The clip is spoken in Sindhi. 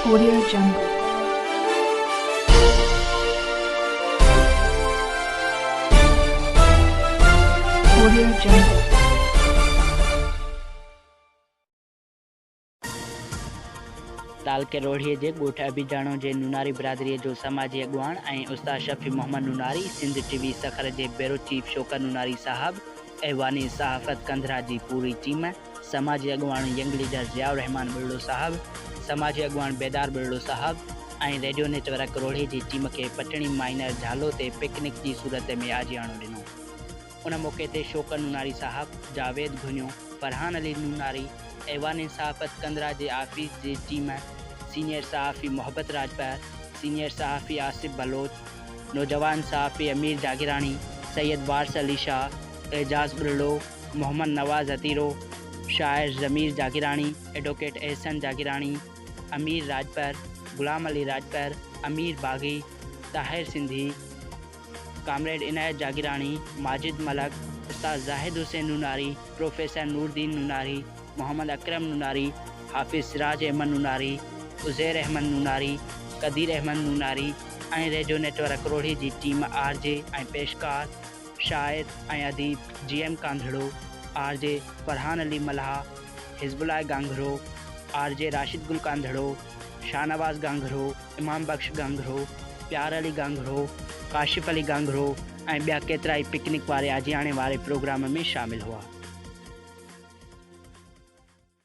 ڪوريا جنگ، ڪوريا جنگ. تعلقي روهڙي جي ڳوٺ ابيجاڻو جي نوناري برادري جو سماجي اڳواڻ ۽ استاد شفيع محمد نوناري، سنڌ ٽي وي سکر جي بيورو چيف شوڪت نوناري صاحب، ايوان صحافت ڪنڌرا جي پوري ٽيم. سماجي اڳواڻ ينگ ليڊر ضياء الرحمان ٻرڙو صاحب، سماجي اڳواڻ بيدار ٻرڙو صاحب ۽ ريڊيو نيٽ ورڪ روهڙي جي ٽيم کي پٽڻي مائنر جهالو تي پڪنڪ جي صورت ۾ آجياڻو ڏنو. ان موقعي تي شوڪت نوناري صاحب، جاويد گهنيو، فرحان علي نوناري، ايوان انصاف ڪندرا جي آفيس جي ٽيم، سينيئر صحافي محبت راڄپر، سينيئر صحافي آصف بلوچ، نوجوان صحافي امير جاگيراڻي، سيد وارث علي شاهه، اعجاز ٻرڙو، محمد نواز هتيرو، شاعر ضمير جاگيراڻي، ايڊووڪيٽ احسن جاگيراڻي، امير راڄپر، غلام علي راڄپر، امير باغي، طاهر سنڌي، ڪامريڊ عنايت جاگيراڻي، ماجد ملڪ، استاد Zahid Hussain Nonari, professor Nooruddin Nonari, Muhammad Akram Nonari, Hafiz Siraj Ahmed Nonari, Uzair Ahmed Nonari, Qadeer Ahmed Nonari ۽ radio network Rohri جي ٽيم آر جي ۽ پيشڪار، شاعر ۽ اديب G M Kandharo, R J Farhan Ali Mallah, Hizbullah Ganghro, R جي راشد گل ڪانڌڙو، شاهنواز گانگهرو، امام بخش گانگهرو، پيار علي گانگهرو، ڪاشف علي گانگهرو ۽ ٻيا ڪيترائي پڪنڪ واري آجياڻي واري پروگرام ۾ شامل هئا.